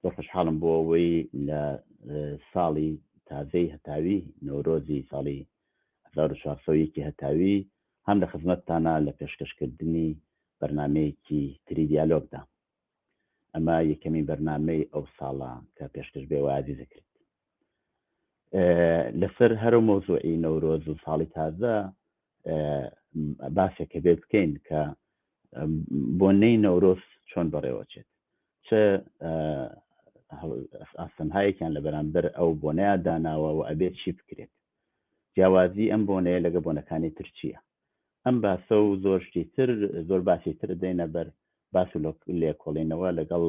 زۆر خۆشحاڵم بۆ ئەوەی لە ساڵی تازەی هەتاوی نەورۆزی ساڵی 1401 هەتاوی هەم لە خزمەتتانە لە پێشکەشکردنی بەرنمەیەکی تری دیالۆگدا ئەمە یەکەمین بەرنمەی ئەو ساڵە کە پێشکەش بێ وازی دەکرێت لەسەر هەرو مەوزوعی نەورۆز و ساڵی تازە باسێکە بێ بکەین کە بۆنەی نەورۆز چۆن بەڕێوەچێت چ ئاستەنهایەکیان لە بەرامبەر ئەو بۆنەیە داناوە و ئەبێت چی بکرێت جیاوازی ئەم بۆنەیە لەگە بۆنەکانی ترچیە ئەم باسە و زۆر شتی تر زۆر باسی تر دێنە بەر باس و لێکۆڵینەوە لەگەڵ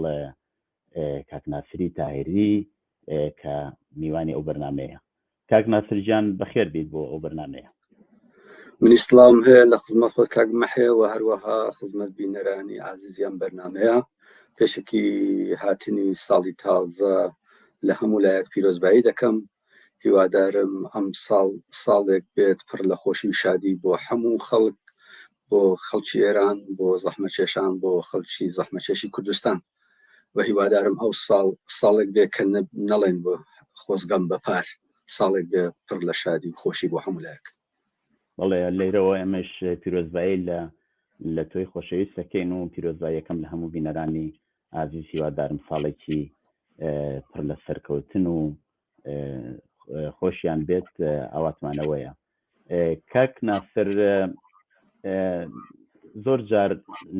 کاک ناسری تاهیری کە میوانی ئەو بەرنمەیە کاک ناسر جان بەخێر بیت بۆ ئەو بەرنمەیە منی سلااوم هەیە لە خزمە خۆ کاک مەحەیە و هەروەها خزمەت بینەرانی ئازیزیان بەرنمەیە پێشکی هاتنی ساڵی تازە لە هەموو لایەک پیرۆزبایی دەکەم هیوادارم ئەم ساڵ ساڵێک بێت پڕ لە خۆشی و شادی بۆ هەموو خەڵک بۆ خەڵکی ئێران بۆ زەحمەچێشان بۆ خەڵکی زەحمەچێشی کوردستان و هیوادارم ئەو ساڵ ساڵێک بێ کە نەڵێن بۆ خۆزگەم بە پار ساڵێک بێ پڕ لە شادی و خۆشی بۆ هەمولایەک بەڵێ لێرەوە ئەمەش پیرۆزبایی لە لە تۆی خۆشەویست دەکەین و پیرۆزباییەکەم لە هەموو بینەرانی ئازیز هیوادارم ساڵێکی پڕ لە سەرکەوتن و خۆشیان بێت ئاواتمانەوەیە کاک ناسر زۆر جار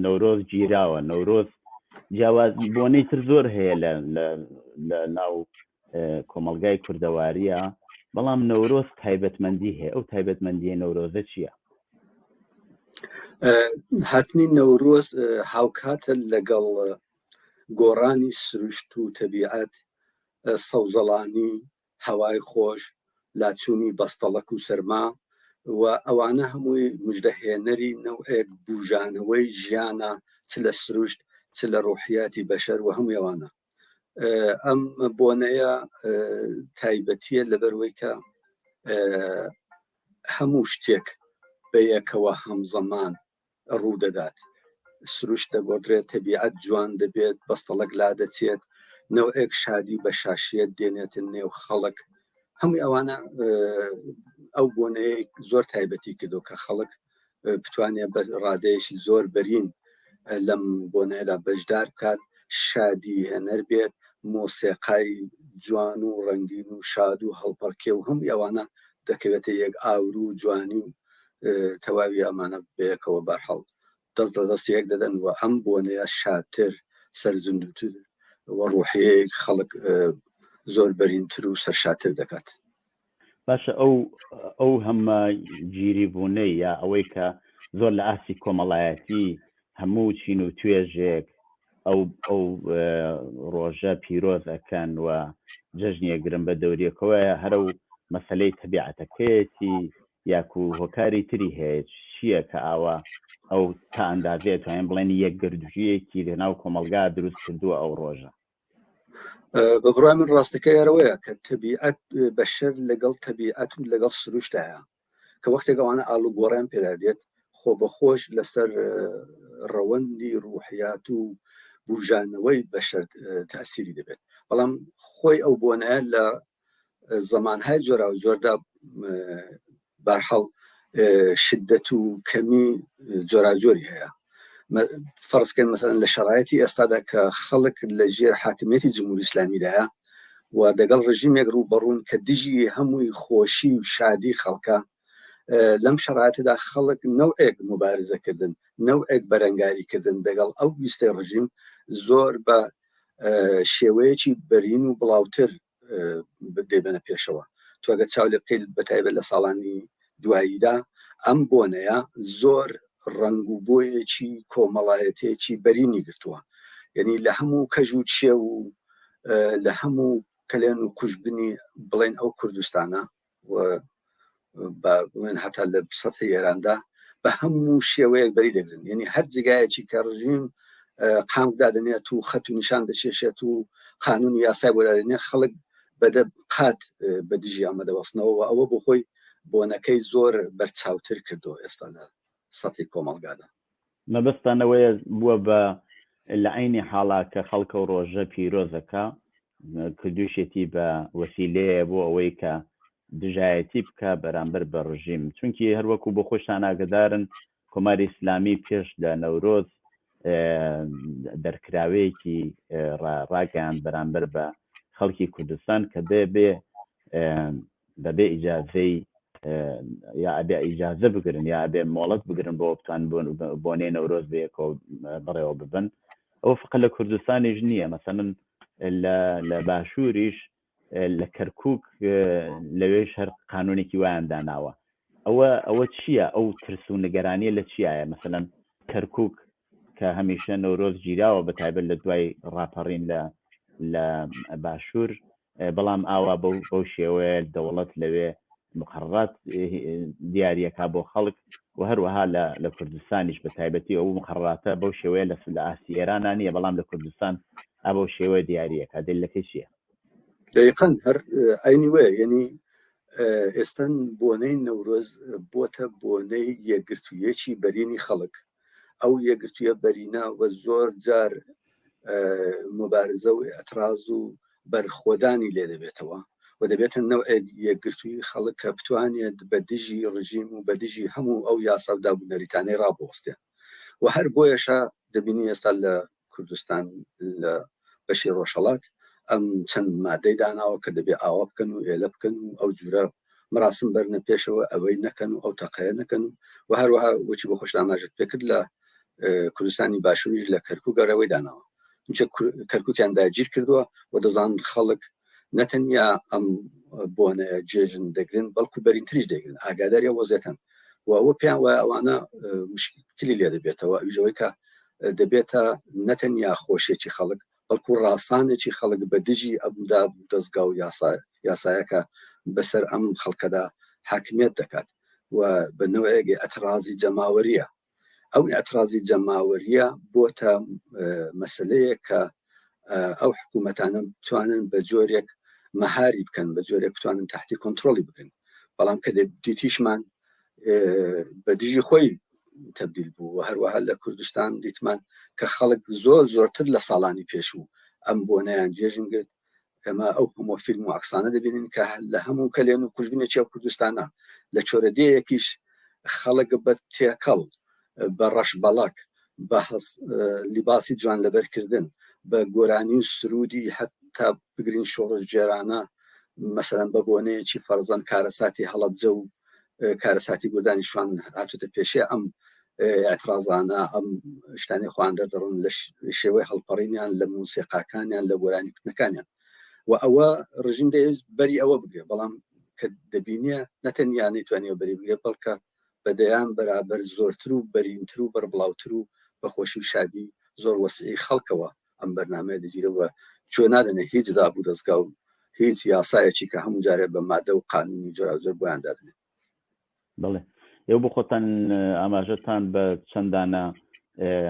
نەورۆز گیراوە نەورۆز جیاواز بۆنەی تر زۆر هەیە لە ناو کۆمەلگای کوردەواریە بەڵام نەورۆز تایبەتمەندی هەیە ئەو تایبەتمەندی نەورۆزە چییە؟ هاتنی نەورۆز هاوکاتە لەگەڵ گۆڕانی سروشت و تەبیعەت سەوزەڵانی، هەوای خۆش، لاچوونی بەستەڵەک و سەرما و ئەوانە هەمووی مژدەهێنەری نەوعێک بووژانەوەی ژیانە چ لە سروشت چ لە ڕوحیاتی بەشەر و هەمووی ئەوانە ئەم بۆنەیە تایبەتیە لەبەروەی کە هەموو شتێک بەیەکەوە هەمزەمان ڕوودەدات، سروشت دەگۆڕدرێت، تەبیعەت جوان دەبێت، بەستەڵەک لادەچێت، نەوعێک شادی بە شاشییەت دێنێتە نێو خەڵک، هەمووی ئەوانە ئەو بۆنەیە زۆر تایبەتی کردو کە خەڵک بتوانێت بە ڕادەیەکی زۆر بەرین لەم بۆنەیەدا بەشدار بکات شادی هێنەر بێت مۆسێقای جوان و ڕەنگین و شاد و هەڵپەڕکێ و هەم ئەوانە دەکەوێتە یەک ئاورو و جوانی و تەواوی ئەمانە بەیەکەوە بەرحەڵ دەست لە دەستی یەک دەدەن و ئەم بۆنەیە شادتر سەرزندوتر و ڕوحەیەک خەڵک زۆر بەرینتر و سەرشاتر دەکات باشە ئەو ئەو هەمە گیری بوونەی یا ئەوەی کە زۆر لە ئاسی کۆمەڵایەتی هەموو چین و توێژێک ئەو ئەو ڕۆژە پیرۆز ئەکەن و جەژنیە گرن بە دەوریەکەوەیە هەرە و مەسلەی تەبیعەتەکەیەتی یاکو هۆکاری تری هەیە چییە کە ئاوا ئەو تا ئەندازەیە توانین بڵێن یەکگردژیەکی لەناو کۆمەلگا دروست کردووە ئەو ڕۆژە بە بڕای من ڕاستەکە یارەوەیە کە تەبیعەت بەشەر لەگەڵ تەبیعەت و لەگەڵ سروشتایە کە وەختێک ئەوانە ئالوگۆڕیان پێدا دێت خۆ بەخۆش لەسەر ڕەوەندی ڕوحیات و بژانەوەی بەشەر تاسیری دەبێت بەڵام خۆی ئەو بۆنە لە زمانهای جۆراوجۆردا بارحاڵ شدەت و کەمی جۆراجۆری هەیە فەرزکەن مەسەن لە شرایەتی ئێستادا کە خەڵک لە ژێر حاکمیەتی جمهوری ئسلامیدایە و دەگەڵ ڕژیمێک ڕوو بەڕوون کە دژی هەمووی خۆشی و شادی خەڵکە لەم شرایەتدا خەڵک نەوەک مبارزەکردن نەوەک بەرەنگاریکردن دەگەڵ ئەو ویستەی ڕژیم زۆر بە شێوەیەکی بەرین و بڵاوتر دەبەنە پێشەوە تۆگە چاو لێ بکەیت بە تایبەت لە ساڵانی دواییدا ئەم بۆنەیە زۆر ڕنگ و بۆیەکی کۆمەڵایەتێکی بەرینی گرتووە یعنی لە هەموو کەژ و چێ و لە هەموو کەلێن و کوشببنی بڵێن ئەو کوردستانە بڵێن هەتا لە سەتی ئێراندا بە هەموو شێوەیەک بەری دەگرن یعنی هەر جگایەکی کە ڕژیم قام دادنێت و خەت و نیشان دەشێشێت و قانون یاسای بۆدادنێ خەڵک بەدە قات بە دژی ئەمە دەوەستنەوە ئەوە بۆ خۆی بۆنەکەی زۆر بەرچاوتر کردو ئێستا لە سەتحی کۆمەڵگادا. مەبەستتان ئەوەیە بووە بە لە عەینی حاڵا کە خەڵکە و ڕۆژە پیرۆزەکە کردووشێتی بە وەسیلەیە بۆ ئەوەی کە دژایەتی بکە بەرامبەر بە ڕژیم چونکی هەروەکو بۆ خۆشتان ئاگدارن کۆماری ئیسلامی پێش لە نەورۆز دەرکراوەیەکی ڕاگەیان بەرامبەر بە خەڵکی کوردستان کە دەبێ بەبێ ئیجازەی یا ئەبێ ئیجازە بگرن یا ئەبێ مۆڵەت بگرن بۆ بتان بۆنێ نەورۆز بەیەکۆ بڕێوە ببن ئەو فقە لە کوردستانیش نییە مەسەن لە باشووریش لە کەرکک لەوێش هەر قانونێکی وایان داناوە ئەوە ئەوە چییە ئەو ترس و نگەرانیە لە چیایە مەسەلەن کەرکک کە هەمیشە نەورۆز گیراوە بە تایبەت لە دوای ڕاپەڕین لە لە باشوور بەڵام ئاوا بەو شێوەیە دەوڵەت لەوێ مقرڕات دیارەکە بۆ خەڵک و هەروەها لە لە کوردستانیش بە تایبەتی ئەو مقرڕاتە بەو شێوەیە لە لە ئاستی ئێرانە نیە بەڵام لە کوردستان ئەبەو شێوەیە دیارەکە دلەکەی چییە دقن هەر ئەینی وێ یعنی ئێستن بۆنەی نەورۆز بۆتە بۆنەی یەکگرتوویەکی بەرینی خەڵک ئەو یەکگرتوویە بەرینە و زۆر جار مبارزە و ئەتراز و بەرخۆدانی لێ دەبێتەوە و دەبێتە نەوە یەکگرتووی خەڵک کە بتوانێت بە دژی ڕژیم و بە دژی هەموو ئەو یاسا و دابوونەریتانەی ڕابوەستێن و هەر بۆیەشە دەبینی ئێستا لە کوردستان لە بەشی ڕۆژهەڵات ئەم چەند مادەی داناوە کە دەبێ ئاوا بکەن و ئێلە بکەن و ئەو جورە مراسم بەرنە پێشەوە ئەوەی نەکەن و ئەو تەقەیە نەکەن و و هەروەها وچی بۆ خۆش ئاماژت پێکرد لە کوردستانی باشوریش لە کەرکک گەڕەوەی داناوە چونچە کەرککیان داگیر کردووە و دەزان خەڵک نەتەنیا ئەم بۆنە جێژن دەگرن بەڵکو بەرینتریش دەگرن ئاگاداری وەزێتن و ئەوە پێیان وایە ئەوانە مشکلی لێ دەبێتەوە ئەوژەوەی کە دەبێتە نەتەنیا خۆشێکی خەڵک بەڵکو ڕاستانێکی خەڵک بە دژی ئەمدا دەستگا و یاسایەکە بەسەر ئەم خەڵکەدا حاکمیت دەکات و بە نوێگە ئەترازی جەماوەریە ئەو ئەترازی جەماوەریە بۆتە مەسلەیە کە ئەو حکوومەتانە بتوانن بە جۆرێک مەهاری بکەن بە جۆرێک بتوانن تحتی کۆنتترۆلی بکەن بەڵام کە دیتیشمان بە دژی خۆی تبدیل بوو هەروەها لە کوردستان دیتمان کە خەڵک زۆر زۆرتر لە ساڵانی پێشوو ئەم بۆنیان جێژن گرت ئێمە ئەو هەموو فیلم و عەکسانە دەبینین کە لە هەموو کەلێن و کوژبنێکی ئەو کوردستانە لە چۆرە دێیەکیش خەڵک بە تێکەڵ بە ڕەش بەڵک بە لیباسی جوان لەبەرکردن بە گۆرانی و سرودی حتا بگرین شۆڕش جێرانە مەسەرەن بە بۆنەیەکی فەرزەن کارەساتی هەڵەبجە و کارەساتی گودانی شوان هاتوتە پێشێ ئەم ئەترازانە ئەم شتانی خوان دەردڕن لە شێوەی هەڵپەڕینیان لە موسیقاکانیان لە گۆرانی کوتنەکانیان و ئەوە ڕژیم دەویست بەری ئەوە بگرێ بەڵام کە دەبینە نەتەنیا نەیتوانانی بەری بگرێ بەڵکە بەدەیان بەرابەر زۆرتر و بەرینتر و بەربڵاوتر و بەخۆشی و شادی زۆر وەسیعی خەڵکەوە ئەم بەرنمەیە دەگیرەوە چۆ نادەنێ هیچ دابوو دەستگا و هیچ یاسایەکی کە هەموو جارێ بە مادە و قانونی جۆراوجۆر بۆیان دادنێت بڵێ ئێو بۆ خۆتان ئاماژەتان بە چەندانە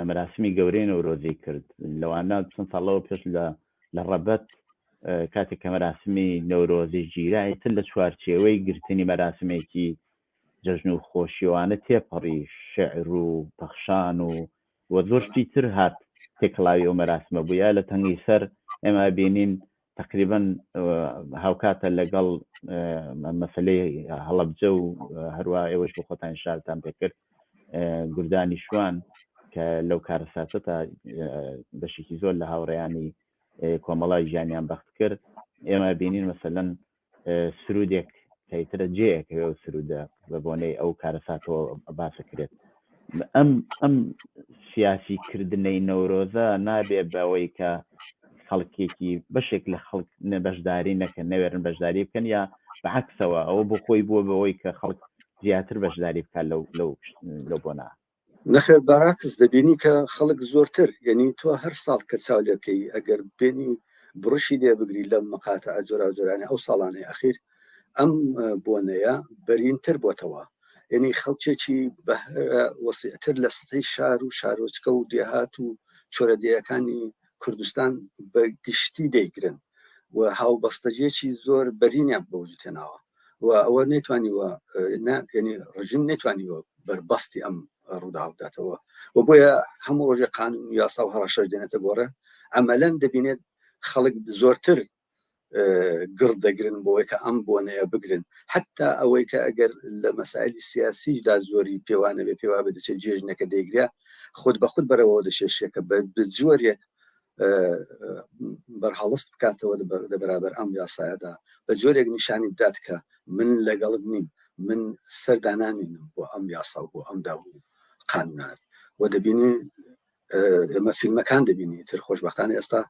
مەراسمی گەورەی نەورۆزی کرد لەوانە چەند ساڵەوە پێش لە لە ڕەبەت کاتێک کە مەراسمی نەورۆزی گیرای تر لە چوارچێوەی گرتنی مەراسمێکی جەژن و خۆشیوانە تێپەڕی شعر و پەخشان و وە زۆرشتی تر هات تێکڵاوی ئەو مەراسمە بووە لە تەنگی سەر ئێمە بینین تەقریبەن هاوکاتە لەگەڵ مەسلەی هەڵەبجە و هەروە ئێوەش بۆ خۆتان شارتان پێکرد گردانی شوان کە لەو کارەساتە تا بەشێکی زۆر لە هاوڕێیانی کۆمەڵای ژیانیان بەخت کرد ئێمە بینین مەسەلەن سرودێک کەیترە جێەکەوێ و سرودە بە بۆنەی ئەو کارەساتەوە باسە کرێت ئەم ئەم سیاسی کردنەی نەورۆزە نابێ بەوەی کە خەڵکێکی بەشێک لە خەڵک نەبەشداری نەکەن نەوێرن بەشداری بکەن یا بەعکسەوە ئەوە بۆ خۆی بووە بەوەی کە خەڵک زیاتر بەشداری بکات لەو لەو لەو بۆنا نەخێر بەراکس دەبینی کە خەڵک زۆرتر یەنی تۆ هەر ساڵ کە چاو لێبکەی ئەگەر بێنی بڕشی لێ بگری لەم مقاتعە جۆراوجۆرانە ئەو ساڵانەی ئەخیر ئەم بۆنەیە بەرینتر بۆتەوە یەنی خەڵکێکی بە وەسیعتر لە سەتەی شار و شارۆچکە و دێهات و چۆرەدێیەکانی کوردستان بە گشتی دەیگرن و هاوبەستەجێکی زۆر بەرینیان بەوجود هێناوە و ئەوە نەیتوانیوە ناتێنی ڕژیم نەیتوانیوە بەربەستی ئەم ڕوودا بداتەوە و بۆیە هەموو ڕۆژێ قانون و یاسا و هەڕەشەش دێنێتە گۆڕێ ئەمەلەن دەبینێت خەڵک زۆرتر گڕ دەگرن بۆی کە ئەم بۆنەیە بگرن حتا ئەوەی کە ئەگەر لە مەسایلی سیاسیشدا زۆری پێوانەبێ پێوا بە دەچێت جێژنەکە دەیگرە خود بە خود بەرەوە دەشێشێکە بە بجۆرێک بەرهەڵست بکاتەوە لە بەرابەر ئەم یاسایەدا بە جۆرێک نیشانی بدات کە من لەگەڵت نیم من سەردانانینم بۆ ئەم یاسا بۆ ئەم داو قانونان و دەبینی ئێمە فیلمەکان دەبینی تر خۆشببختانە ئێستا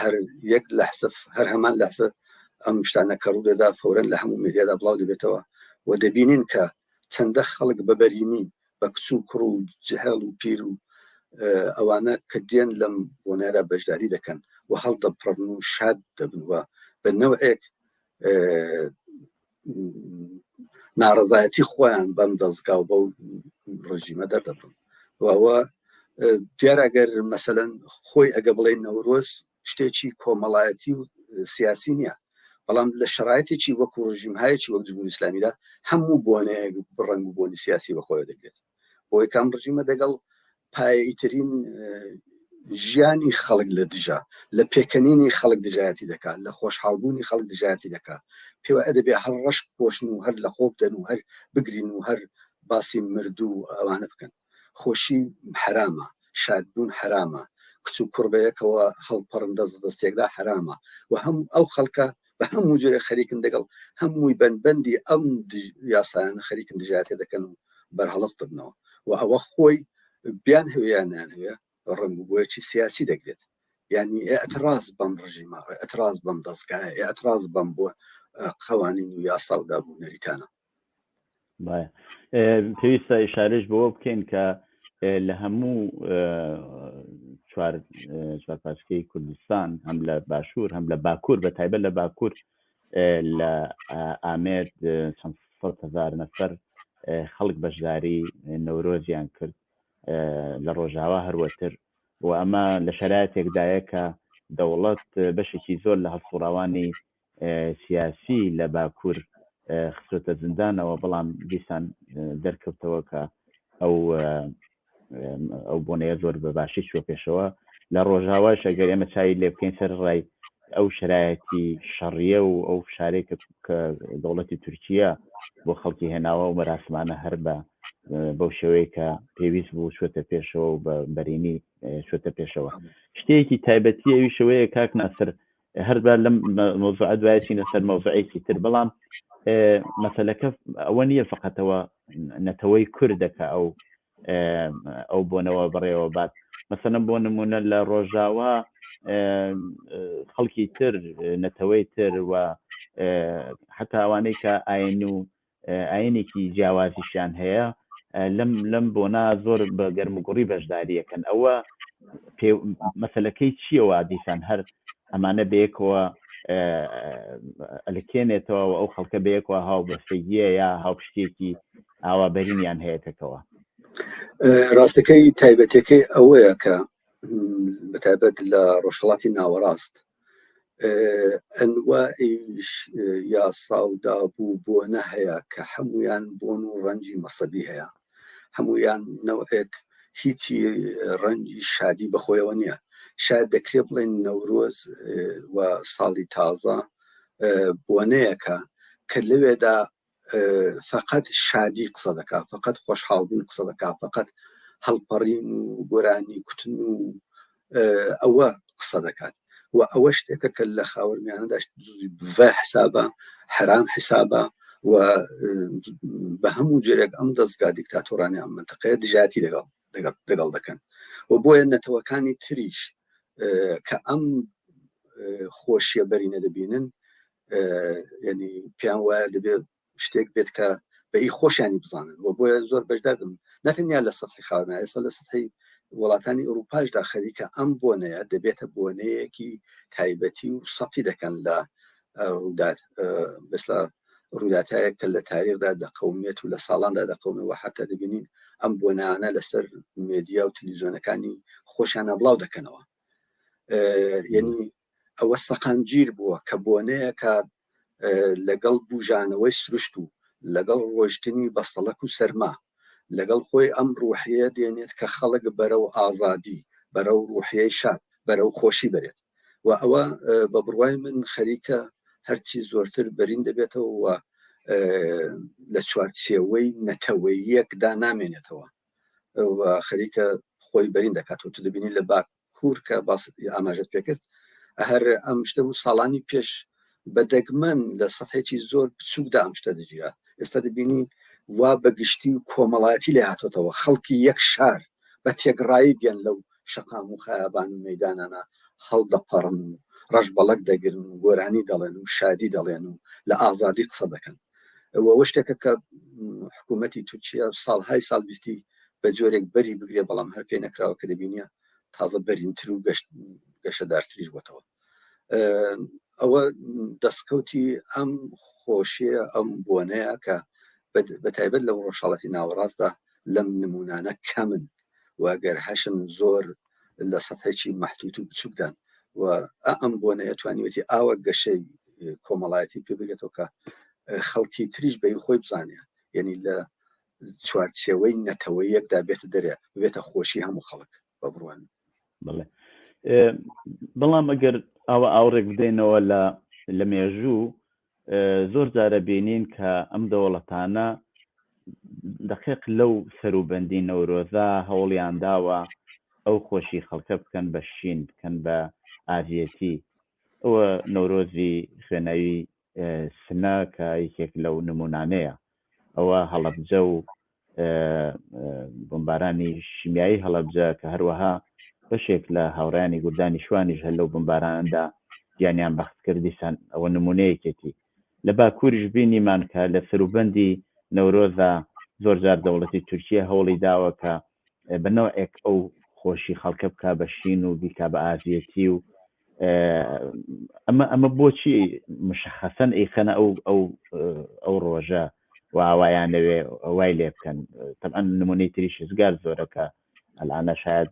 هەر یەک لە حسف هەر هەمان لەسە ئەم شتانە کە ڕوودەدا فورەن لە هەموو میدیادا بڵاو دەبێتەوە و دەبینین کە چەندە خەڵک بەبەرینی بە کچ و کوڕ و جهێڵ و پیر و ئەوانە کە دێن لەم بۆنەیەدا بەشداری دەکەن و هەڵدەپڕن و شاد دەبن و بە نەوعێک ناڕزایەتی خۆیان بەم دەستگا و بە ڕژیمە دەردەبن وەوە دیارەگەر مەسەەن خۆی ئەگە بڵێ نەورۆز شتێکی کۆمەڵایەتی و سیاسی نییە بەڵام لە شرایەتێکی وەکو ڕژیمهایەکی وەک جمهوری ئسلامیدا هەموو بۆنەیەک بڕنگ و بۆنی سیاسی بەخۆی دەگرێت بۆی کام ڕژیمە دەگەڵ پایترین ژیانی خەڵک لە دژە لە پێکەنینی خەڵک دژایەتی دەکات لە خۆشحاڵبوونی خەڵک دژایەتی دەکات پێوە ئەدەبێ هەر ڕەش پۆشن و هەر لە خۆ بدەن و هەر بگرین و هەر باسی مردوو ئەوانە بکەن خۆشی حەرامە، شادبوون حەرامە، کچ و کوڕ بەیەکەوە هەڵپەڕن دەست لە دەستێکدا حەرامە و هەموو ئەو خەڵکە بە هەموو جۆرێک خەریکن دەگەڵ هەمووی بەند بەندی ئەم یاسایانە خەریکن دژایەتی دەکەن و بەرهەڵست دەبنەوە و ئەوە خۆی بیانهەوێ یان نەیانهەوێ ڕەنگ و بۆیەکی سیاسی دەگرێت یعنی ئێعتراز بەم ڕژیمە ئێعتراز بەم دەستگایە ئێعتراز بەم بۆ قەوانین و یاسا و داب و نەریتانە. پێویستە ئشارش بەوە بکەین کە لە هەموو چوارپاسکەی کوردستان هەم لە باشوور هەم لە باکوور بە تایبەت لە باکوور لە ئامێت چەند هزار نەفەر خەڵک بەشداری نەورۆزیان کرد لە ڕۆژاوا هەروەتر و ئەمە لە شەرایەتێکدایە کە دەوڵەت بەشێکی زۆر لە هەڵسوڕاوانی سیاسی لە باکوور خستۆتە زندانەوە بەڵام دیسان دەرکەوتەوە کە ئەو ئەو بۆنەیە زۆر بە باشی چوە پێشەوە لە ڕۆژاواش ئەگەر ئێمە چاوی لێ بکەین سەر ڕای ئەو شرایەتی شەڕیە و ئەو فشارێک کە دەوڵەتی تورکیا بۆ خەڵکی هێناوە و مەراسمانە هەر بە بەو شێوەیە کە پێویست بوو شوێتە پێشەوە و بە بەرینی شوێتە پێشەوە شتێکی تایبەتی ئەوی شوەیە کاک ناسر هەربا لەم مۆزوعە دوای چینە سەر مۆزعێکی تر بەڵام مەسلەکە ئەوە نییە فقەتەوە نەتەوەی کوردەکە ئەو ئەو بۆنەوە بڕێوە بات مەسەنە بۆ نمونە لە ڕۆژاوا خەڵکی تر نەتەوەی تر و حتا ئەوانەی کە ئاین و ئاینێکی جیاوازیشیان هەیە لەم لەم بۆنا زۆر بە گەرم و گوڕی بەشداریەکەن ئەوە مەسلەکەی چیەوە دیسان هەر ئەمانە بەیەکەوە ئەلکێنێتەوە و ئەو خەڵکە بەیەکەوە هاو بەستەگیە یا هاوپشتێکی ئاوا بەرینیان هەیە پێکەوە ڕاستەکەی تایبەتەکەی ئەوەیە کە بەتابەت لە ڕۆژهڵاتی ناوەڕاست ئەنوائیش یاسا و دابوو بۆنە هەیە کە هەمویان بۆن و ڕەنجی مەسەبی هەیە هەمویان نەوعێک هیچی ڕەنجی شادی بەخۆیەوە نییە شاید دەکرێ بڵێن نەورۆز و ساڵی تازە بۆنەیەکە کە لەوێدا فەقەت شادی قسە دەکا فەقەت خۆشحاڵ بوون قسە دەکا فەقەت هەڵپەڕین و گۆرانی کوتن و ئەوە قسە دەکات و ئەوە شتێکە کە لە خاوەرمیانە داشت بە حسابە حرام حسابە و بە هەموو جێرێک ئەم دەستگا دیکتاتۆرانی ئەم منتەقەیە دژاتی لەگەڵ دەگەڵ دەکەن و بۆیە نەتەوەکانی تریش کە ئەم خۆشیە بەرینە دەبینن ینی پێیان وایە دەبێت شتێک بێت کە بە ئی خۆشیانی بزانن و بۆیە زۆر بەشدادم نەتەنیا لە سەحی خاوەنە ئێستا لە سەحی وڵاتانی ئوروپاشدا خەریکە ئەم بۆنەیە دەبێتە بۆنەیەکی تایبەتی و سەتی دەکەن لە ڕوودات بەسلا ڕووداتایە کە لە تاریخدا دەقومێت و لە ساڵاندا دەقومەوە حتا دەبینین ئەم بۆ نانە لەسەر مێدیا و تلیزۆنەکانی خۆشیانە بڵاو دەکەنەوە یعنی ئەوە سەقامگیر بووە کە بۆنەیە کە لەگەڵ بژانەوەی سروشت و لەگەڵ ڕۆشتنی بەسەڵک و سەرما لەگەڵ خۆی ئەم ڕوحەیە دێنێت کە خەڵک بەرە و ئازادی بەرە و ڕوحەی شاد بەرە و خۆشی بێت و ئەوە بە بڕوای من خەریکە هەرچی زۆرتر بەرین دەبێتەوە و لە چوارچێوەی نەتەوەیەکدا نامێنێتەوە و خەریکە خۆی بەرین دەکات و تو دەبینی لە باکوور کە باس ئاماژت پێکرد هەر ئەم شتە بوو ساڵانی پێش بە دەگمەن لە سەتحێکی زۆر بچووکدا ئەم شتە دەگیرا، ئێستا دەبینین وا بە گشتی و کۆمەڵایەتی لێ هاتۆتەوە، خەڵکی یەک شار بە تێگڕایی دێن لەو شەقام و خەیابان و مەیدانانە هەڵدەپەڕن و ڕەشبەڵەک دەگرن و گۆرانی دەڵێن و شادی دەڵێن و لە ئازادی قسە دەکەن و ئەوە شتێکە کە حکوومەتی تورکیا ساڵهای ساڵ ویستی بە جۆرێک بەری بگرێ بەڵام هەر پێ نەکراوە کە دەبینە تازە بەرینتر و گەشت گەشەدارتریش بۆتەوە ئەوە دەستکەوتی ئەم خۆشیە ئەم بۆنەیە کە بە تایبەت لە ڕۆژهڵەتی ناوەڕاستدا لەم نمونانە کەمن واگەر هەشن زۆر لە سەتەکی مەحتوت و بچووکدان و ئەم بۆنەیە توانیوەتی ئاوە گەشەی کۆمەڵایەتی پێ بگێتەوە کە خەڵکی تریش بەی خۆی بزانێ یعنی لە چوارچێوەی نەتەوەیەکدا بێتە دەرێ بێتە خۆشی هەموو خەڵک بە بڕوان بڵێ بەڵام ئەگەر ئەوە ئاوڕێک بدەینەوە لە لە مێژوو زۆر جارە بینین کە ئەم دەوڵەتانە دقیق لەو سەروبەندی نەورۆزا هەوڵیان داوە ئەو خۆشی خەڵکە بکەن بە شین بکەن بە ئازیەتی ئەوە نەورۆزی خوێنەوی سنە کە یەکێک لەو نمونانەیە ئەوە هەڵەبجە و بمبارانی شیمیایی هەڵەبجە کە هەروەها بەشێک لە هاوڕیانی گوردانی شوانیش هەل لەو بمباراندا گیانیان بەخت کردیسان ئەوە نمونەیەکێتی لە باکووریش بینیمان کە لە سەروبەندی نەورۆزا زۆر جار دەوڵەتی تورکیا هەوڵی داوە کە بە نەوعێک ئەو خۆشی خەڵکە بک بە شین و بیکا بە ئازیەتی و ئەمە ئەمە بۆچی مشخەسەن ئیخەنە ئەو ئەو ئەو ڕۆژە واوایان لەوێ وای لێ بکەن تەعاان نمونەی تری شزگار زۆرەکە ئەلانە شاید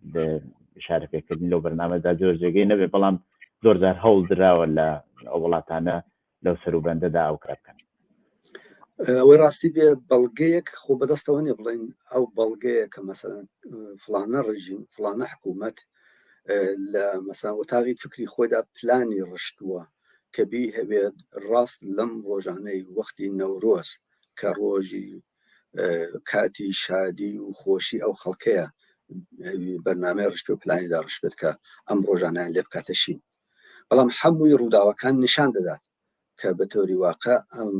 شارە پێکردنی لەو بەرنامەدا زۆر جێگەی نەبێ بەڵام زۆرجار هەوڵ دراوە لە ئەو وڵاتانە لەو سەروبەندەدا ئەو کار بکەن ئەوەی ڕاستی بێ بەڵگەیەک خۆ بەدەستەوە نیە بڵین ئەو بەڵگەیە کە مەسەن فلانە ڕژیم فلانە حکوومەت لە مەسان وتاغی فکری خۆیدا پلانی ڕشتووە کە بی هەوێت ڕاست لەم ڕۆژانەی وەختی نەورۆز کە ڕۆژی کاتی شادی و خۆشی ئەو خەڵکەیە بەرنمەی ڕشت و پلانیدا ڕشبێت کە ئەم ڕۆژانیان لێ بکاتەشین بەڵام حەمووی ڕووداوەکان نیشان دەدات کە بە تۆری واقع ئەم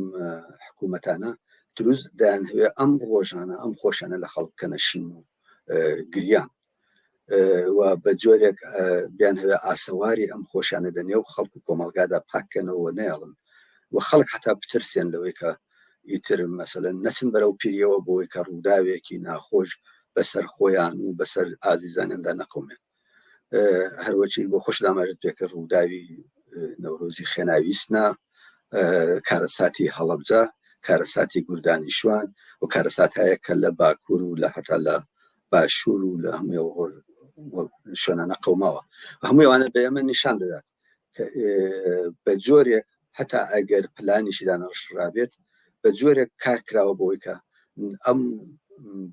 حکوومەتانە دروست دەیانهوێ ئەم ڕۆژانە ئەم خۆشانە لە خەڵک کەنە شین و گریان و بە جۆرێک بیان هەوێ ئاسەواری ئەم خۆشانە دە نێو خەڵک و کۆمەلگادا پاکەنەوە نێڵن و خەڵک حتا بترسێن لەوەی کە ئیتر مەسەن نەچن بەرەو پیریەوە بۆی کە ڕووداوێکی ناخۆش بەسەر خۆیان و بەسەر ئازیزانیاندا نەقومێن هەروەچی بۆ خۆش داماژت پێکە ڕووداوی نەورۆزی خێناویستنا کارەساتی هەڵەبجە کارەساتی گوردانی شوان و کارەسات هەیە کە لە باکوور و لە هەتا لە باشوور و لە هەموو شوێنانە قەوماوە هەموویوانە بە ئێمە نیشان دەدات بە جۆرێک هەتا ئەگەر پلانیشی دانەڕشرابێت بە جۆرێک کار کراوە بۆیکە ئەم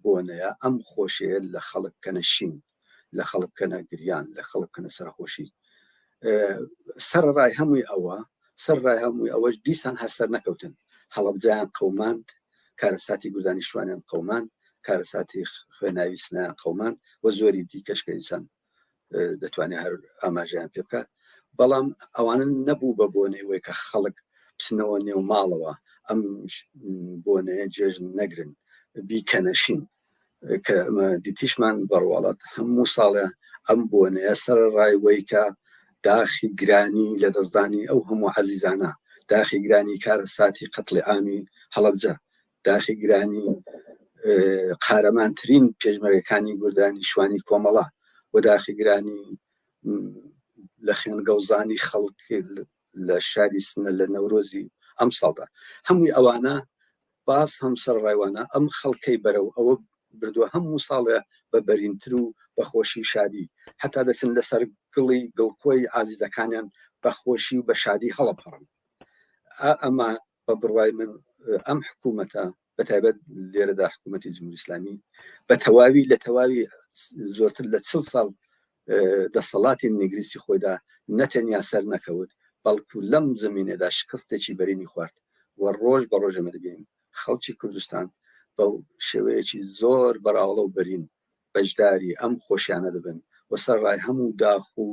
بۆنەیە ئەم خۆشەیە لە خەڵک کەنەشین لە خەڵک بکەنە گریان لە خەڵک بکەنە سەرخۆشی سەرڕای هەمووی ئەوە سەرڕای هەمووی ئەوەش دیسان هەرسەر نەکەوتن هەڵبجیان قەوماند کارەساتی گودانی شوانیان قەومان کارەساتی خوێناوی سنایان قەومان و زۆری دیکەش کە ئینسان دەتوانێت هەر ئاماژیان پێ بکات بەڵام ئەوانن نەبوو بە بۆنەی وەی کە خەڵک بچنەوە نێو ماڵەوە ئەم بۆنەیە جێژن نەگرن بیکەنەشین کە دیتیشمان بەڕواڵەت هەموو ساڵێ ئەم بۆنەیە سەر ڕای وەی کە داخی گرانی لە دەستدانی ئەو هەموو عزیزانە داخی گرانی کارە ساتی قەتڵی ئامی هەڵبجە داخی گرانی قارەمانترین پێشمەرەکانی گوردانی شوانی کۆمەڵە و داخی گرانی لە خوێن گەوزانی خەڵک لە شاری سنە لە نەورۆزی ئەمساڵدا هەمووی ئەوانە باس هەم سەرڕایوانە ئەم خەڵکەی بەرەو ئەوە بردووە هەموو ساڵێ بە بەرینتر و بە خۆشی و شادی هەتا دەچن لەسەر گڵی گڵکۆی ئازیزەکانیان بە خۆشی و بە شادی هەڵەپەڕن ئەمە بە بڕوای من ئەم حکوومەتە بە تایبەت لێرەدا حکوومەتتی جمهوری ئسلامی بە تەواوی لە تەواوی زۆرتر لە چل ساڵ دەسەڵاتی نگریسی خۆیدا نەتەنیا سەر نەکەوت بەڵکو لەم زمینێدا شکستێکی بەرینی خوارد و ڕۆژ بە ڕۆژەمە دەبین خەڵکی کوردستان بە شێوەیەکی زۆر بەراوڵە و بەرین بەشداری ئەم خۆشیانە دەبن و سەرڕای هەموو داخ و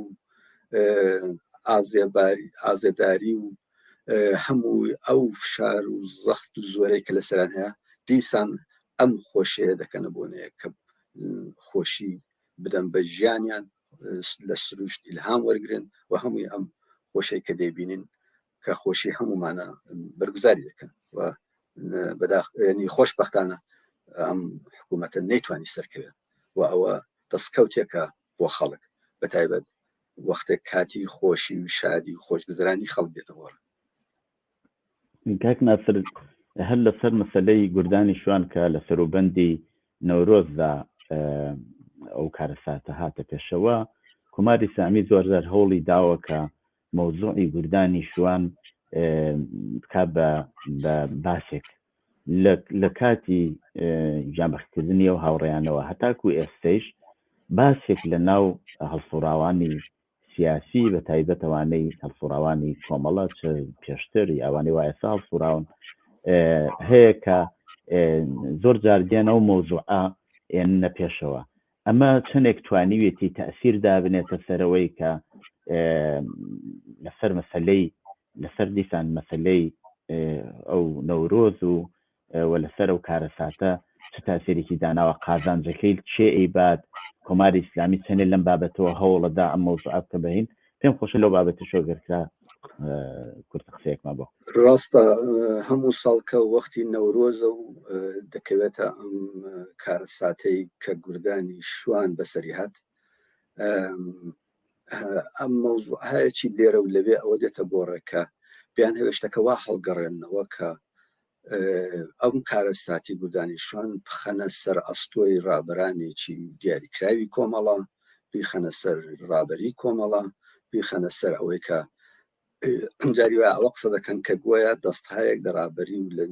ئازێداری و هەموو ئەو فشار و زەخت و زۆرەی کە لەسەران هەیە دیسان ئەم خۆشەیە دەکەنە بۆنەیە کە خۆشی بدەم بە ژیانیان لە سروشت ئیلهام وەرگن و هەمووی ئەم خۆشەی کە دەبینین کە خۆشی هەمومانە بەرگزاری دەکەن و بەداخنی خۆش بەختانە ئەم حکوومەتە نەیتوانی سەرکەوێت و ئەوە دەستکەوتێکە بۆ خەڵک بە تایبەت وەختێک کاتی خۆشی و شادی و خۆشگزرانی خەڵک دێتە گۆڕ کاک ناسر هەر لەسەر مەسلەی گردانی شوان کە لە سەروبەندی نەورۆزدا ئەو کارەساتە هاتە پێشەوە کوماری سامی زۆرزار هەوڵی داوە کە مەوزوعی گوردانی شوان بکا بە باسێک لە کاتی جامەختکردنی و هاوڕێیانەوە هەتاکو ئێستەیش باسێک لە ناو هەڵسوڕاوانی سیاسی بە تایبەتەوانەی هەڵسوڕاوانی کۆمەڵە چ پێشتر یاوانی وایە ساڵ سوراون هەیە کە زۆر جاردێنە و مۆزوعە ئێنە پێشەوە ئەمە چەندێک توانیویەتی تەئسیر دابنێتە سەرەوەی کە لەسەر مەسلەی لەسەر دیسان مەسلەی ئەو نەورۆز و و لەسەر و کارەساتە چ تاسێرێکی داناوە قازانجەکەی چێ ئەیبات کۆماری ئیسلامی چەندێ لەم بابەتەوە هەوڵەدا ئەم مەوزوع بکە بەین پێم خۆشە لەو بابەتی شۆگەرکە کورت قسەیەکمان بۆ ڕاستە هەموو ساڵکە وەختی نەورۆزە و دەکەوێتە ئەم کارەساتەی کە گوردانی شوان بەسەری هاات ئەم مەوزوع هەیەی لێرە و لەوێ ئەوە دێتە گۆڕێکە بیان هەوێشتەکەوا هەڵگەڕێنەوە کە ئەم کارەساتی بودانیشان بخەنە سەر ئەستۆی ڕابەرانێکی دیاریکراوی کۆمەڵە بیخەنە سەر ڕابەری کۆمەڵە بیخەنە سەر ئەوەی کە ئەمجاری وە ئەوە قسە دەکەن کە گوۆیە دەست هاەک لە ڕابەری و لە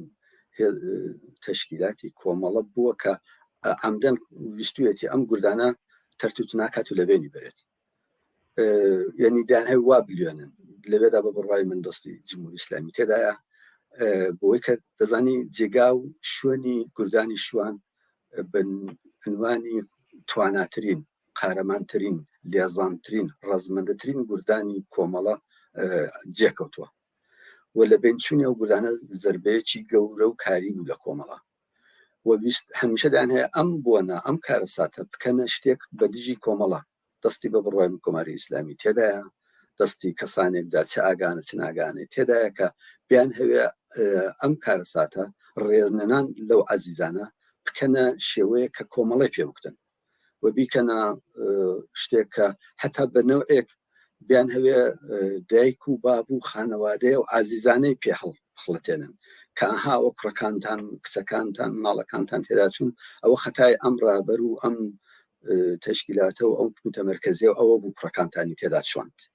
تەشکیلاتی کۆمەڵە بووە کە ئەمدەن ویستویەتی ئەم گردانە تەرتوت ناکات و لەبێنی بێت یعنی دان هەیە وا بلیێنن لەوێدا بە بڕای من دەستی جمهور ئیسلامی تێدایە بۆی کە دەزانی جێگا و شوێنی کوردانی شوان بنوانی تواناترین قارەمانترین لێزانترین ڕزمەندەترین گوردانی کۆمەڵە جێکەوتووە و لە بنچونی ئەو گولانە زربەیەکی گەورە و کاری بوو لە کۆمەڵە و ویست هەمیشە دایان هەیە ئەم بۆنە، ئەم کارەساتە بکەنە شتێک بە دژی کۆمەڵە، دەستی بە بڕوای کۆماری ئیسلامی تێدایە، دەستی کەسانێک دا چ ئاگانە چ ناگانەی تێدایە کە بیانهەوێ ئەم کارەساتە، ڕێزنەنان لەو عەزیزانە، بکەنە شێوەیەک کە کۆمەڵەی پێ بکوتن. و بیکەنە شتێک کە هەتا بە نەوعێک بیان هەوێ دایک و باب و خانەوادەیە و ئازیزانەی پێ هەڵخڵەتێنن کەها و کوڕەکانتان کچەکانتان ماڵەکانتان تێداچوون ئەوە خەتای ئەم ڕابەر و ئەم تشکیلاتە و ئەو متەمەرکزیە و ئەوە بوو کوڕەکانتانی تێدا چۆند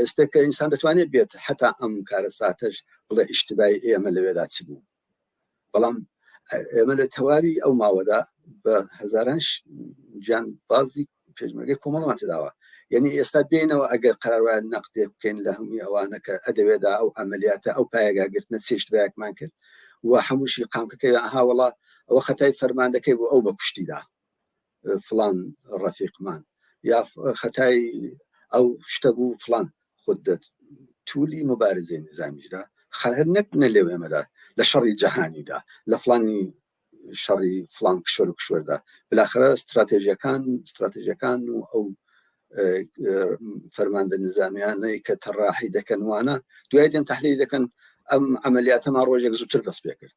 ئێستا کە ئینسان دەتوانێت بێت حتا ئەم کارە ساتەش بڵێ ئیشتبای ئێمە لەوێدا چ بوو بەڵام ئێمە لە تەواوی ئەو ماوەدا بە هزاران جان بازی پێشمەرگەی کۆمەڵمان تداوە یعنی ئێستا بینەوە ئەگەر قەرواە نەقدێ بکەین لە هەمووی ئەوانە کە ئەدەوێدا ئەو ئەمەلیاتە ئەو پایگاگرتنە چێشت بەیەکمان کرد و هەمووشی قامکەکەی ئاهاوەڵا ئەوە خەتای فەرماندەکەی بۆ ئەو بە کوشتیدا فڵان ڕەفیقمان یا خەتای ئەو شتە بوو فلان خود دەت تولی مبارزی نظامیشدا خەهر نەک نە لێو ئێمەدا لە شەڕی جەهانیدا لە فلانی شەڕی فلان کشوەر و کشوەردا بلاخرە استراتێژیەکان استراتێژەکان و ئەو فەرماندە نظامیانەی کە تەڕاحی دەکەن وانە دوای دێن تحلیل دەکەن ئەم عملیاتەما ڕۆژێک زووتر دەست پێ کرد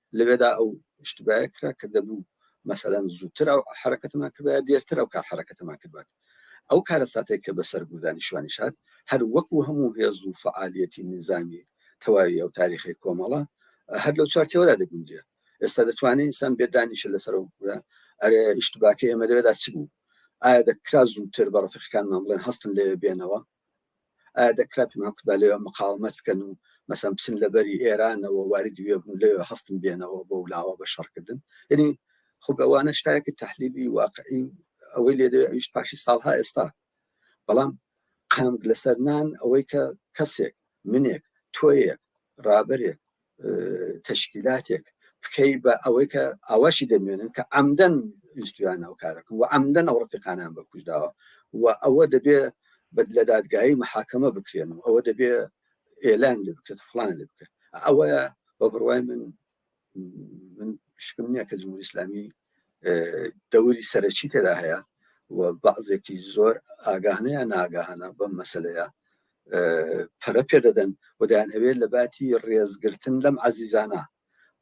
لەوێدا ئەو ئشتبایە کرا کە دەبوو مەسەلەن زووتر ئەو حەرەکەتەمان کردبایە دێرتر ئەو کار حەرەکەتەمان کردبات ئەو کارەساتێک کە بەسەر گوردانی شوانی شاد هەر وەکو هەموو هێز و فعالیەتی نیزامی تەواوی ئەو تاریخی کۆمەڵە هەر لەو چارچەوەدا دەگونجێ ئێستا دەتوانێت ئینسان بێدانیشە لەسەر ئەرێ ئشتباکە ئێمە لەوێدا چ بوو ئایا دەکرا زووتر بە ڕفقەکانمان بڵێن هەستن لەوێ بێنەوە ئایا دەکرا پێمان کوتبا لەوێ مقاومەت بکەن و مەسەن بچن لە بەری ئێرانەوە واردی وێ بوون لەوێ هەستن بێنەوە بەو لاوە بە شەڕکردن یعنی خۆ ئەوانە شتایەکی تحلیلی واقعی ئەوەی لێ دەوێت ئەویش پاشی ساڵها ئێستا بەڵام قەنگ لەسەر نان ئەوەی کە کەسێک منێک تۆیەک ڕابەرێک تەشکیلاتێک بکەی بە ئەوەی کە ئاواشی دەمێنن کە ئەمدەن ویستویان ئەو کارەکە و ئەمدەن ئەو ڕفقانیان بە کوژداوە و ئەوە دەبێ بەد لە دادگایی محاکەمە بکرێن و ئەوە دەبێ ئێلان لێ بکرێت فلان لێ بکرێت ئەوە بە بڕوای من من شکم نییە کە جمهوری ئسلامی دەوری سەرەکی تێدا هەیە و بەعزێکی زۆر ئاگاهانەیە ناگاهانە بەم مەسلەیە پەرە پێ دەدەن و دەیانهەوێت لە باتی ڕێزگرتن لەم عەزیزانە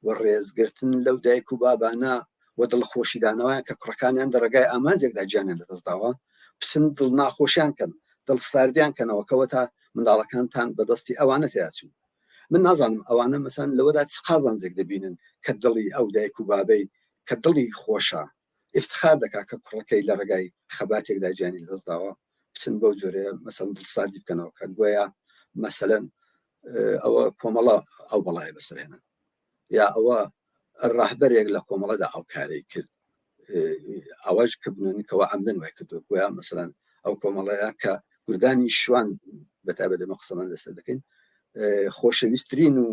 و ڕێزگرتن لەو دایک و بابانە و دڵخۆشیدانەوەیان کە کوڕەکانیان لە ڕێگای ئامانجێکدا گیانیان لەدەستداوە بچن دڵ ناخۆشیان کەن دڵ ساردیان کەنەوە کەوەتا منداڵەکانتان بەدەستی ئەوانە تیاچوو من نازانم ئەوانە مەسەن لەوەدا چ قازانجێک دەبینن کە دڵی ئەو دایک و بابەی کە دڵی خۆشە ئیفتخار دەکات کە کوڕەکەی لە ڕێگای خەباتێکدا گیانی لەدەستداوە، بچن بەو جۆرەیە مەسەلەن دڵساردی بکەنەوە کە گۆیا مەسەلەن ئەوە کۆمەڵە ئەو بەڵایە بەسەرهێنن یا ئەوە ڕاهبەرێک لە کۆمەڵەدا ئەو کارەی کرد ئەوەش کە بنونکەوە ئەمدن وای کردو گویا مەسەلەن ئەو کۆمەڵەیە کە گردانی شوان بەتابە دەمە قسەمان لەسەر دەکەین خۆشەویستترین و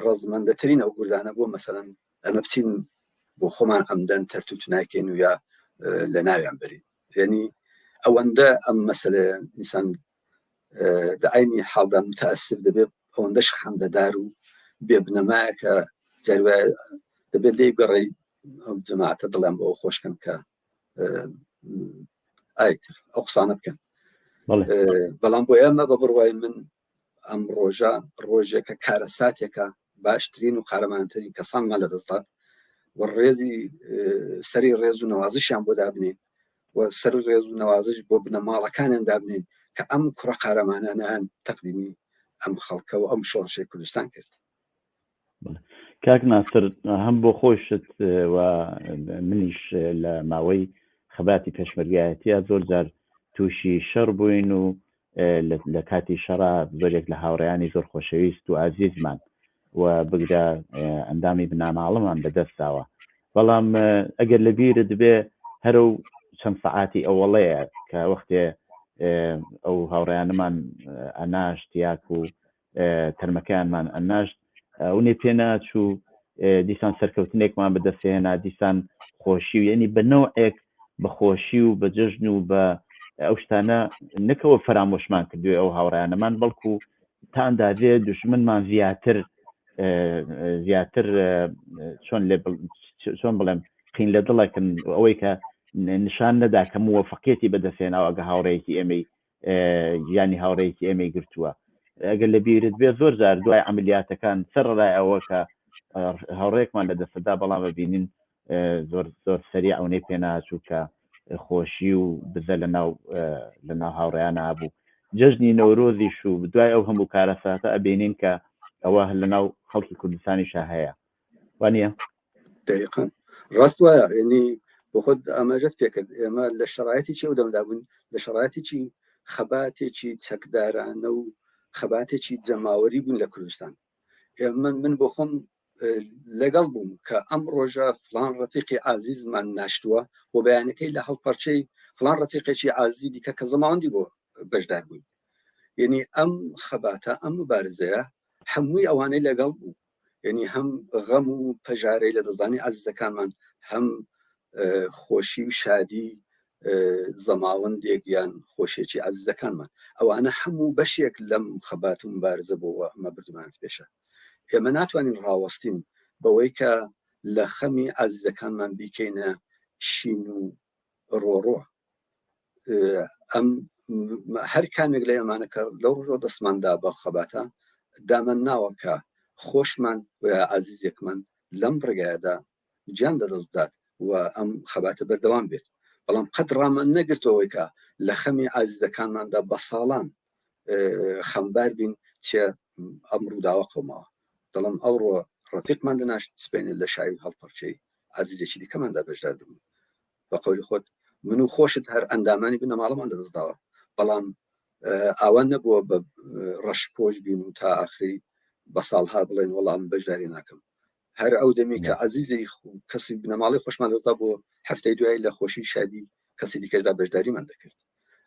ڕزمەندەترین ئەو گردانە بۆ مەسەن ئەمە بچین بۆ خۆمان ئەمدەن تەرتوت ناکەین و یا لە ناویان برین یعنی ئەوەندە ئەم مەسلە ئینسان داینی حاڵدا متاسف دەبێت ئەوەندەش خەندەدار و بێ بنەمایە کە جاروە دەبێت لێ گەڕی ئەو جەماعتە دڵیان بۆ خۆشکن کە ئایتر ئەو قسانە بکەن بەڵام بۆ ئێمە بە بڕوای من ئەم ڕۆژە ڕۆژێکە کارەساتێکە باشترین و قارەمانترین کەسانمان لە دەستدات و ڕێزی سەری ڕێز و نەوازشیان بۆ دابنین و سەر ڕێز و نەوازش بۆ بنەماڵەکانیان دابنین کە ئەم کوڕە قارەمانانیان تەقدیمی ئەم خەڵکە و ئەم شۆڕشی کوردستان کرد کاک ناسر هەم بۆ خۆشت و منیش لە ماوەی خەباتی پێشمەرگایەتە زۆر جار تووشی شەڕ بووین و لە کاتی شەڕا زۆرێک لە هاوڕیانی زۆر خۆشەویست و ئازیزمان و بگرە ئەندامی بناماڵەمان بەدەستداوە بەڵام ئەگەر لە بیرە دەبێ هەرو چەند سەعاتی ئەوەڵەیە کە وەختێ ئەو هاوڕیانمان ئەناشتیاک و تەرمەکەیانمان ئەناشت ئەو نێ پێ ناچوو دیسان سەرکەوتنێکمان بەدەستهێنا دیسان خۆشی و یعنی بە نەوەک بە خۆشی و بە جەژن و بە ئەو شتانە نەکەوە فەرامۆشمان کردوێ ئەو هاوڕیانەمان بەڵکو تانداێ دژمنمان زیاتر زیاتر چۆن لێ چۆن بڵێم قین لە دڵەکن ئەوەی کە نیشان نەدا کە مووەفقەتی بەدەستێناوە ئەگە هاوڕێکی ئێمەی گیانی هاوڕێکی ئێمەی گرتووە ئەگەر لە بیرت بێ زۆر زار دوای عملیاتەکان سەر ڕای ئەوە کە هاوڕێکمان لە دەستدا بەڵام ببینین زۆر زۆر سەری ئەونەی پێناچوو کە خۆشی و بزە لە ناو لە ناو هاوڕیان نبوو جەژنی نەورۆزیش و دوای ئەو هەموو کارەساتە ئەبینین کە ئەوە لە ناو خەڵکی کوردستانیشە هەیە وانە دقن ڕاست وایە ینی بۆ خۆت ئاماژەت پێکرد ئێمە لە شرایەتی چی و دەمدا بوون لە شرایەتی چی خەباتێکی چەکدارانە و خەباتێکی جەماوەری بوون لە کوردستان ئێمە من بۆ خۆم لەگەڵ بووم کە ئەم ڕۆژە فلان ڕفیقی ئازیزمان ناشتووە بۆ بەیانەکەی لە هەڵپەرچەی فلان ڕفیقێکی ئازی دیکە کە زەماوەندی بۆ بەشدار بووین یعنی ئەم خەباتە ئەم مبارزەیە هەمووی ئەوانەی لەگەڵ بوو یەنی هەم غەم و پەژارەی لە دەستدانی ئازیزەکانمان هەم خۆشی و شادی زەماوەندێک یان خۆشێکی ئازیزەکانمان ئەوانە هەموو بەشێک لەم خەبات و مبارزە بۆەوە ئەمە بردمانت پێشە ئێمە ناتوانین ڕاوەستین بەوەی کە لە خەمی ئازیزەکانمان بیکەینە شین و ڕۆڕۆ ئەم هەر کامێک لە ئەمانە کە لەو ڕۆ دەستماندا بە خەباتە دامەن ناوە کە خۆشمان و عزیزێکمان لەم ڕێگایەدا جان لە دەستدات و ئەم خەباتە بەردەوام بێت بەڵام قەت ڕامان نەگرتەوەیکە لە خەمی ئازیزەکانماندا بە ساڵان خەمبار بین چێ ئەم ڕووداوە قەوماوە دەڵم ئەوڕۆ ڕفیقمان دەناشت سپێنێ لە شاوی هەڵپەرچەی ئازیزێکی دیکەماندا بەشدار دەبوو بە قەولی خۆت من و خۆشت هەر ئەندامانی بنەماڵەمان لەدەستداوە بەڵام ئاوان نەبووە بە ڕەش پۆش بین و تا ئاخری بە ساڵها بڵێن وەڵام بەشداری ناکەم هەر ئەو دەمی کە عزیزی کەسی بنەماڵی خۆشمان دەستا بۆ هەفتەی دوایی لە خۆشی شادی کەسی دیکەشدا بەشداریمان دەکرد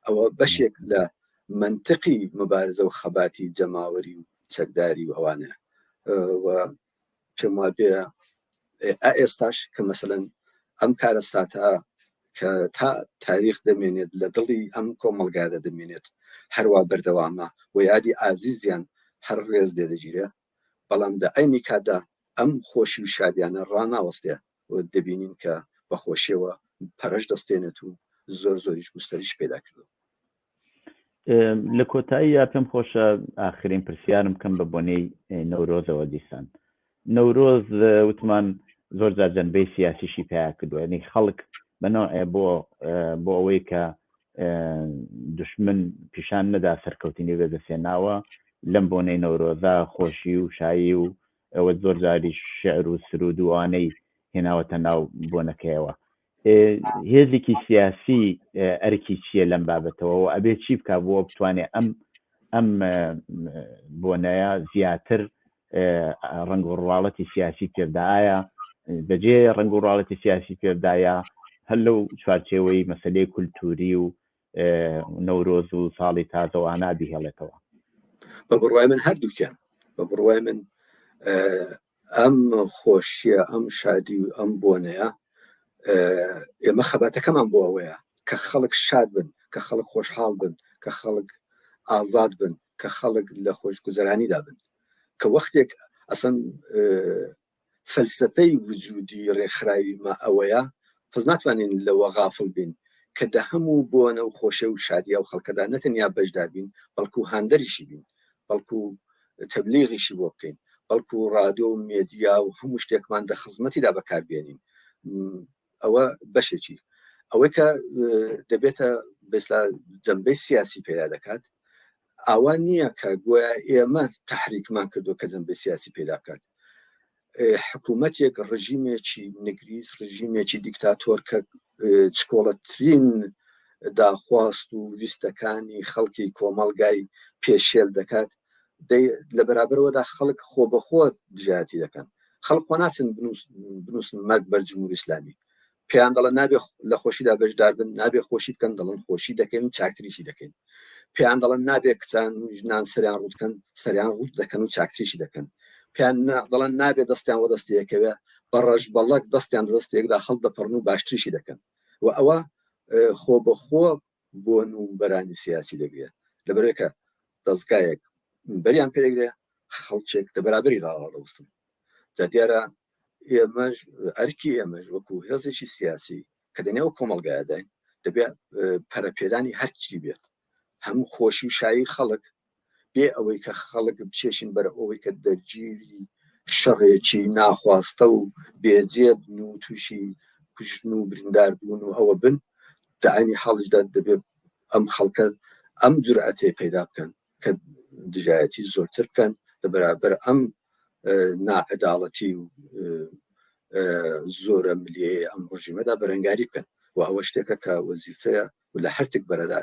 ئەوە بەشێک لە منطقی مبارزە و خەباتی جەماوەری و چەکداری و ئەوانە پێم وا بێ ئێستاش کە مەسەن ئەم کارە ساتا کە تا تاریخ دەمێنێت لە دڵی ئەم کۆمەلگادە دەمێنێت هەروە بەردەوامە و یادی ئازیزیان هەر ڕێز لێ دەگیرێت بەڵام لە عەینی کاتدا ئەم خۆشی و شادیانە ڕاناوەستێ و دەبینین کە بە خۆشیەوە پەرەش دەستێنێت و زۆر زۆریش گوستەریش پێدا کردوە. لە کۆتاییە پێم خۆشە ئاخرین پرسیارم بکەم بە بۆنەی نەورۆزەوە دیسان نەورۆز وتمان زۆر جار جەنبەی سیاسیشی پیا کردووە ینی خەڵک بەنەوە بۆ بۆ ئەوەی کە دشمن پیشان نەدا سەرکەوتنی بەدەستێناوە لەم بۆنەی نەورۆزە خۆشی و شایی و ئەوە زۆر جاریش شعر و سرود و ئەوانەی هێناوەتە ناو بۆنەکەیەوە هێزێکی سیاسی ئەرکی چییە لەم بابەتەوە و ئەبێ چی بک بووە بتوانێت ئەم ئەم بۆنەیە زیاتر ڕنگ و ڕواڵەتی سیاسی پێدایە بەجێ ڕنگ و ڕاڵەتی سیاسی پێدایە هەر لەو چوارچێوەی مەسلەی کولتوری و نەورۆز و ساڵی تازە و ئانا بیهێڵێتەوە بە بڕوای من هەردووکیان بە بڕوای من ئەم خۆشیە ئەم شادی و ئەم بۆنەیە ئێمە خەباتەکەمان بۆ ئەوەیە کە خەڵک شاد بن کە خەڵک خۆشحاڵ بن کە خەڵک ئازاد بن کە خەڵک لە خۆشگوزەرانیدا بن کە وەختێک ئەسەن فەلسەفەی وجودی ڕێکخراوی مە ئەوەیە پز ناتوانین لەوە غافڵ بین کە دە هەمو بۆنە و خۆشێ و شادی ئەو خەڵکەدا نەتەنیا بەشدار بین بەڵکو هاندەریشی بین بەڵکو تەبلیغیشی بۆ بکەین بەڵکو ڕادۆ و مێدیا و هەمو شتێکمان دە خزمەتیدا بەکار بێنین ئەوە بەشێکی ئەوەی کە دەبێتە بێستا جەمبەی سیاسی پێدا دەکات ئاوا نییە کە گویا ئێمە تحریکمان کردو کە جەمبەی سیاسی پێدا بکات حکوومەتێک ڕژیمێکی نگریس ڕژیمێکی دیکتاتۆر کە چکۆڵەترین داخواست و ویستەکانی خەڵکی کۆمەڵگای پێشێل دەکات لە بەرابەرەوەدا خەڵک خۆ بەخۆ دژایەتی دەکەن خەڵک خۆ ناچن بنووسن مەک بەر جمهور ئسلامی پێیان دەڵە نابێ لە خۆشیدا بەشدار بن نابێ خۆشی بکەن دەڵن خۆشی دەکەین و چاکتریشی دەکەین پێیان دەڵن نابێ کچان و ژنان سەریان ڕوتکەن سەریان ڕوت دەکەن و چاکتریشی دەکەن پێیان دەڵن نابێ دەستیان وە دەستەکەوێ بە ڕەش بەڵک دەستیان دەستێکدا هەڵدەپەڕن و باشتریشی دەکەن و ئەوە خۆ بەخۆ بۆن و بەرانی سیاسی دەگرێ لەبەرەوەی کە دەزگایەک بەریان پێ دەگرێ خەڵکێک لە بەرابەری ڕاوەڕوستن جا دیارە ئێمەش ئەرکی ئێمەش وەکو هێزێکی سیاسی کە دەنێو کۆمەڵگایداین دەبێت پەرەپێدانی هەرچی بێت هەموو خۆشی و شایی خەڵک بێ ئەوەی کە خەڵک بچێشن بەر ئەوەی کە دەرگیری شەڕێکی ناخواستە و بێجێ بن و تووشی کوژن و بریندار بوون و ئەوە بن داینی حاڵشدا دەبێت ئەم خەڵکە ئەم جورئەتێ پەیدا بکەن کە دژایەتی زۆرتر بکەن لە بەرابەر ئەم ناعداڵەتی و زۆرە ملیەیە ئەم ڕژیمەدا بەرەنگاری بکەن و ئەوە شتێکە کە وەزیفەیە و لە هەرتک بەرەدا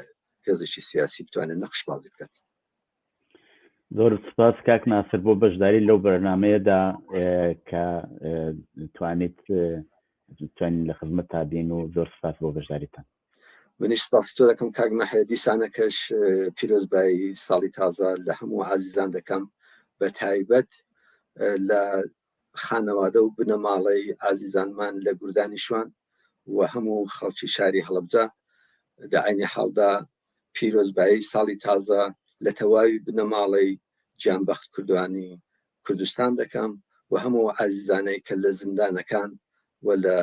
هێزێکی سیاسی بتوانێت نەخش بازی بکات زۆر سپاس کاک ناسر بۆ بەشداری لەو بەرنمەیەدا کە توانیت توانین لە خزمەت تابین و زۆر سپاس بۆ بەشداریتان منیش سپاسی تۆ دەکەم کاک مەحە دیسانەکەش پیرۆزبایی ساڵی تازە لە هەموو عزیزان دەکەم بە تایبەت لە خانەوادە و بنەماڵەی ئازیزانمان لە گوردانی شوان و هەموو خەڵکی شاری هەڵەبجە لە عەینی حاڵدا پیرۆزبایی ساڵی تازە لە تەواوی بنەماڵەی گیانبەخت کوردوانی کوردستان دەکەم و هەموو ئەو ئازیزانەی کە لە زیندانەکان و لە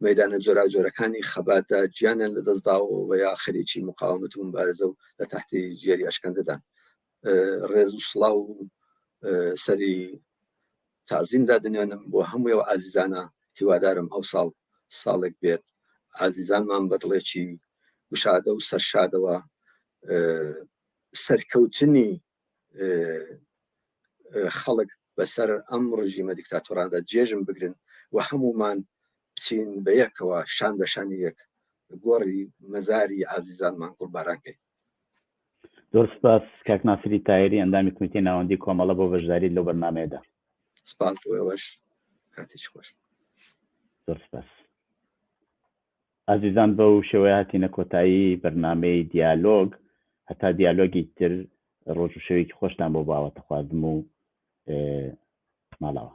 مەیدانە جۆراوجۆرەکانی خەباتدا گیانیان لەدەستداوە و یا خەریکی مقاومەت و موبارزە و لە تەحتی ژێری ئەشکەنجەدان ڕێز و سڵاو و سەری تازیم دادنێنم بۆ هەمووی و ئازیزانە هیوادارم ئەو ساڵ ساڵێک بێت ئازیزانمان بەدڵێکی گشادە و سەرشادەوە سەرکەوتنی خەڵک بەسەر ئەم ڕژیمە دیکتاتۆراندا جێژم بگرن و هەمومان بچین بە یەکەوە شان بەشانی یەک گۆڕی مەزاری ئازیزانمان قوربارانکەین زۆر سپاس کاک ناسری تایری ئەندامی کومیتی ناوەندی کۆمەڵە بۆ بەشداری لەو بەرنمەیەدا سپاس بۆ ئێوەش کاتیش خۆش زۆر سپاس ئازیزان بەو شێوەیە هاتینە کۆتایی بەرنمەی دیالۆگ هەتا دیالۆگی تر ڕۆژ و شەوێکی خۆشتان بۆ باوەتە خوازم و ماڵەوە